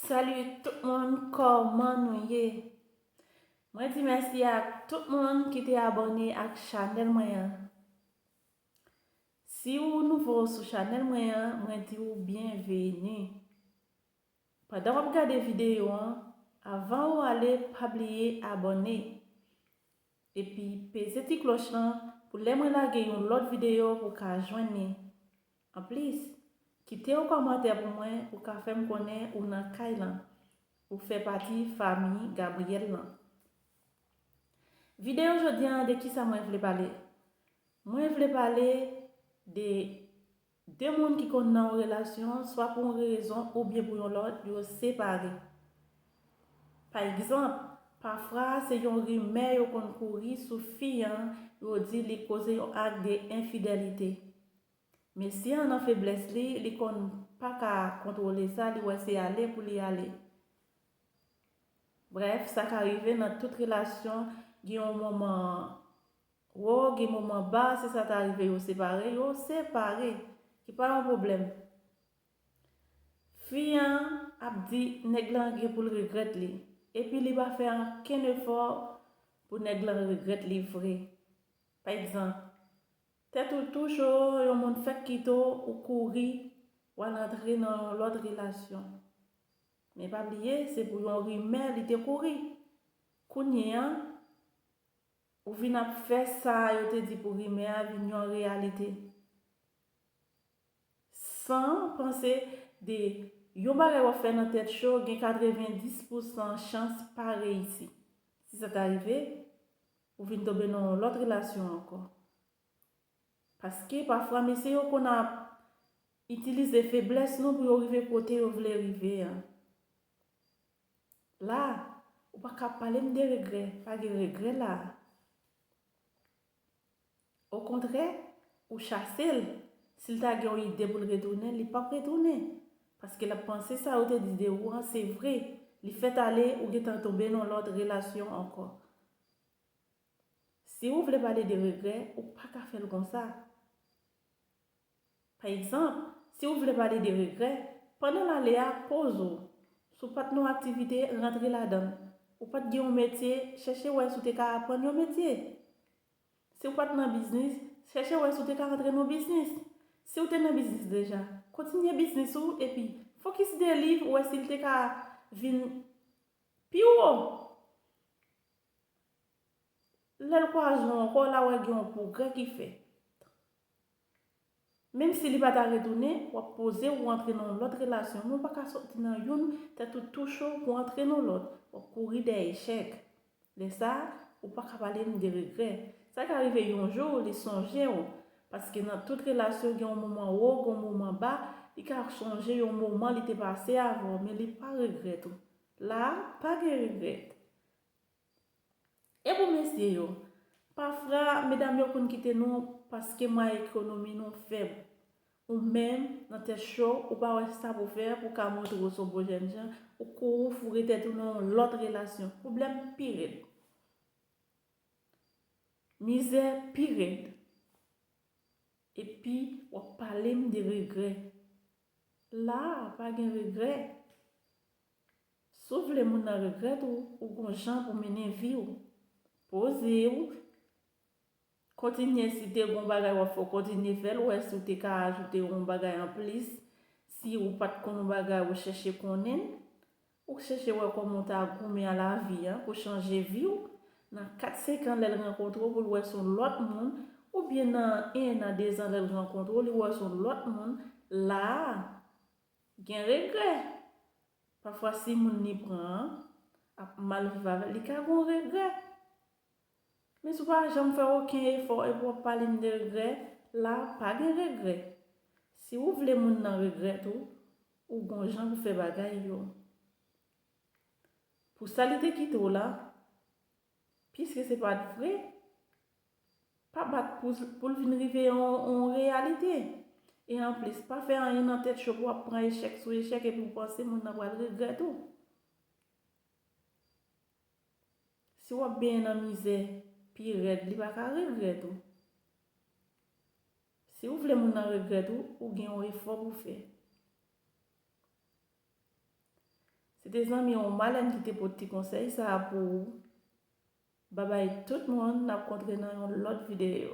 Salut tout moun kòman nou ye Mwen di mèsi ak tout moun ki te abòne ak chanèl mwen an Si ou nouvo sou chanèl mwen an mwen di ou byenveni Pandan wap gade videyo an avan ou ale pa bliye abòne Epi peze ti kloch lan pou lè mwen lage yon lòt videyo ou ka jwenn li Anplis, kite yon kòmantè pou mwen ou ka fèm konnen ou nan kay lan, ou fè pati fami Gabriel lan. Video jodi an de kisa mwen vle pale? Mwen vle pale de 2 moun ki konn nan yon relasyon swa pou yon rezon oubyen pou yon lòt yo separe. Pa egzanp, pafwa se yon rimè yo konn kouri sou fi an yo di li koze yon ak de enfidèlite. Mesye an nan feblès li, li konn pa ka kontwole sa, li wè se ale pou li ale. Brèf, sa ka rive nan tout relasyon, gen yon moman wo, gen moman ba, si sa ta rive yo separe, yo separe, se pa yon pwoblèm. Fi an ap di nèg lan gen pou l regrèt li, epi li pa fè ankenn efò pou nèg lan regrèt li vre. Pa egzanp, Tèt ou touche w yon moun fèk kite w ou kouri w al antre nan yon lòt relasyon men pa bliye se pou yon rimè li te kouri kounye a ou vin ap fè sa yo te di pou rimè a vin yon reyalite san panse de yon bagay w ap fè nan tèt cho gen 90 pousan chans pa reyisi si sa ta rive. Ou vin tonbe nan yon lòt relasyon ankò. Paske pafwa mesye yo konn ap itilize feblès nou pou yo rive kote yo vle rive an. La, ou pa ka ap pale m de regrè, pa gen regrè la. Okontrè, ou chase l. Si l ta gen yon ide pou l retounen, li pap retounen. Paske l ap panse sa yo te di de ou an se vre. Li fèt ale, ou gentan tonbe nan yon lòt relasyon ankò. Si ou vle pale de regrè, ou pa ka fè l konsa. Pa egzanp, si ou vle pale de regrè, pandan l ale a, poze ou. Si w pa t nan yon aktivite, rantre ladan l. Ou pa t gen yon metye, chèche wè si w te ka aprann yon metye. Si w pa t nan biznis, chèche wè si w te ka rantre nan biznis. Si w te nan biznis deja, kontinye biznis ou epi fokis de liv wè si l te ka vin pi wo. Lè l kwaze w ankò, la wè gen yon pwogrè ki fèt. Menm si li pa ta retounen, w ap poze ou antre nan yon lòt relasyon men ou pa ka sòti nan youn tèt ou tou cho pou antre nan lòt, w ap kouri dèyè echèk. Lè sa a, ou pa ka pale m de regrè. Sa ka rive yon jou li sonje w, paske nan tout relasyon gen yon moman wo, gen yon moman ba, li ka sonje yon moman li te pase avè w men li pa regrèt ou. La a, pa gen regrèt. E pou mesye yo? Pafra, medam yo konn kite nou paske mwayen ekonomi nou fèb. Ou menm, nan tèt cho, ou pa wè sa pou fè pou w ka montre w se yon bon jèn jan, ou kouri foure tèt ou nan yon lòt relasyon. Pwoblèm pi rèd. Mizè pi rèd. Epi, w ap pale m de regrè. La a pa gen regrè. Si w vle moun nan regrèt ou, ou gon jan pou mennen vi w. Poze w. Kontinye si te gon bagay w ap fè w kontinye fè l wè si w te ka ajoute yon bagay anplis si ou pat konn yon bagay ou chèche konnen l. Ou k chèche wè kòman w ta goumen a lavi a pou chanje vi w nan 4 5 an lè l rankontre w pou l wè s on lòt moun oubyen nan 1 an 2 zan lè l rankontre w li wè w s on lòt moun la a gen regrè pafwa si moun li pran an ap mal viv avè l li ka gen w regrè. Miss ou pa janm fè oken efò epi wap pale m de regrè, la pa gen regrè. Si ou vle moun nan regrèt ou, ou gon jan pou fè bagay yo. Pou sa li te kite w la, piske se pat vre, pa bat pou l vin rive yon reyalite. E anplis, pa fè anyen nan tèt cho pou wap pran echèk sou echèk epi w panse moun nan pral regrèt ou. Si wap benyen nan mizè pi rèd li pa ka regrèt ou. Si ou vle moun nan regrèt ou, ou gen yon efò pou fè. Se te zanmi ou Malèn ki te pot ti konsèy sa a pou ou. Babay tout moun nap kontre nan yon lòt videyo.